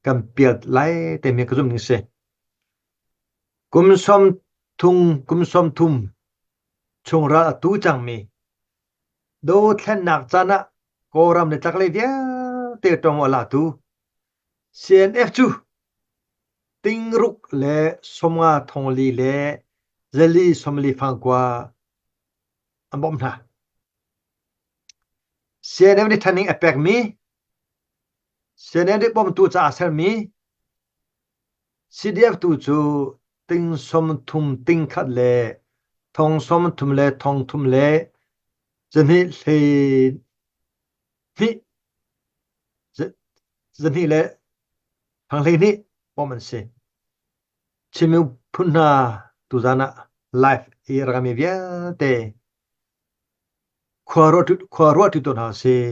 kan piat lai timi ka zumh ning si. Kum sawm thum, kum sawm thum chung ral a tu cangmi dothlennak caan ah Kawlram le chaklei vialte tong a latu CNF cu tingruk le somnga thongli le zali somli fangkua an bawm hna. CNF nih thaning a pekmi Senate bawmtu caah sermi CDF tu cu ting sawm thum ting khat le thong sawm thum le thong thum le zahnih le thang hleihnih bawm an si. Chin miphun hna tuzan ah live i rakami vialte Khua ruahṭi tawn hna sih.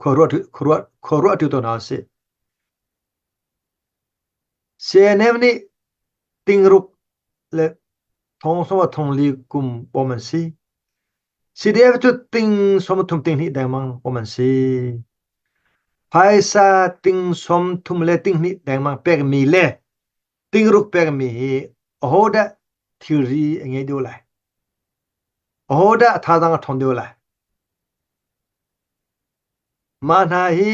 Khua ruahṭi tawn hna sih. CNF nih tingruk le thongsawm a thongli kum pawm an si. CDF cu tingsawm a thum tinghnih dengmang pawm an si. Phaisa tingsawm thum le tinghnih dengmang pekmi le Tingruk pengmi hi ahodah thilri a ngei deuh lai? Ahodah a thazaang a ṭhawn deuh lai? Mah hna hi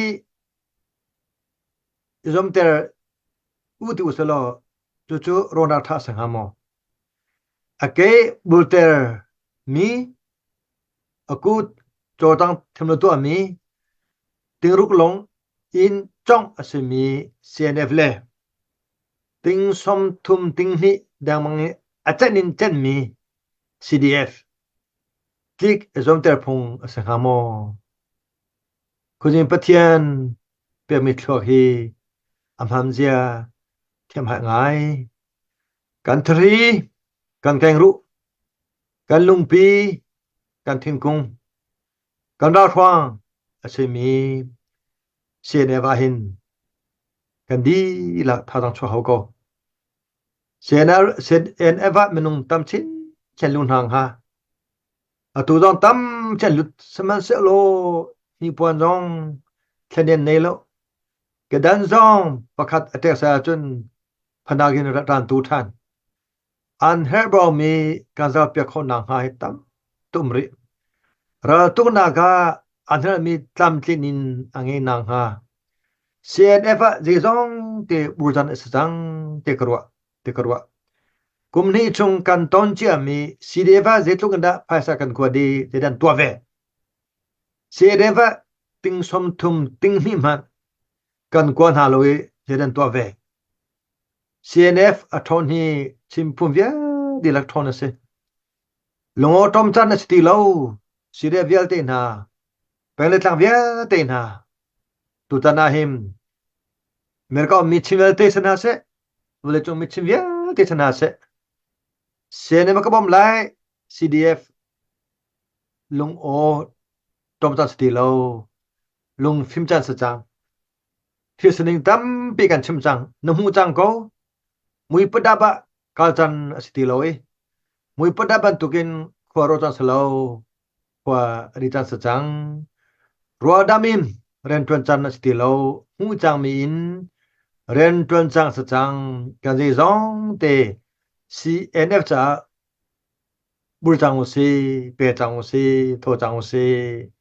i zuamter u ti usih law cucu rawhnak ṭha a si hnga maw? A ke bulter mi a kut cawdang thiam lo tuahmi tingruk-lung in congh a simi CNF le ting sawmthum tinghnih dengmang i a cenh in cenhmi CDF tlik i zuamter phung a si hnga maw? Khuazing Pathian pekmi thluak hi a hmamzia thiamhai ngai. Kan thari kan keng ruh. Kan lungpi, kan thingkung, kan ralhruang a simi CNF ahhin kan dilah thazaang chuah hau ko. CNF ah minung tam chinchin lu hna hnga. Atu zong tam chinchin lut sihmanhsehlaw hnipuan zong thlanian nei lo. Kedan zong pakhat a tek sai ahcun phanak in rat ran tu ṭhan. An herh baumi kan zohpiak khawhnak hnga hi tam tum rih. Raltuknak ah a hngalhmi tlamtlin in a ngei nakhnga CNF ah zeizong te burzan a si cang ti ka ruah, ti ka ruah. Kum hnih chung kan ton ciami CDF ah zeitluk in dah phaisa kan kuat i zeidah an tuah ve. CNF ah ting sawm thum ting hnih hmanh kan kuat hna lo i zeidah an tuah ve. CNF a ṭhawn hi chimphun vialte lak ṭhawn a si. Lungawṭawm can a si ti lo. Syria vialte hna, peng le tlang vialte hna, tutan ah hin America um mi chin vialte si hna seh, vawleicung mi chin vialte si hna seh, CNF a ka bawm lai, CDF lung aw ṭawm can si ti lo. Lung fim can si cang. Thil sining tampi kan chim cang. Na hmuh cang ko. Mui putdap ah kal can a si ti lo i mui putdap bantukin khua ro cang si lo. Khua a ri cang si cang. Rual dam in rianṭuan can a si ti lo. Hmuh cangmi in rianṭuan cang si cang. Kan zei zong te CNF caah bul cang u si, pe cang u si, thaw cang u si.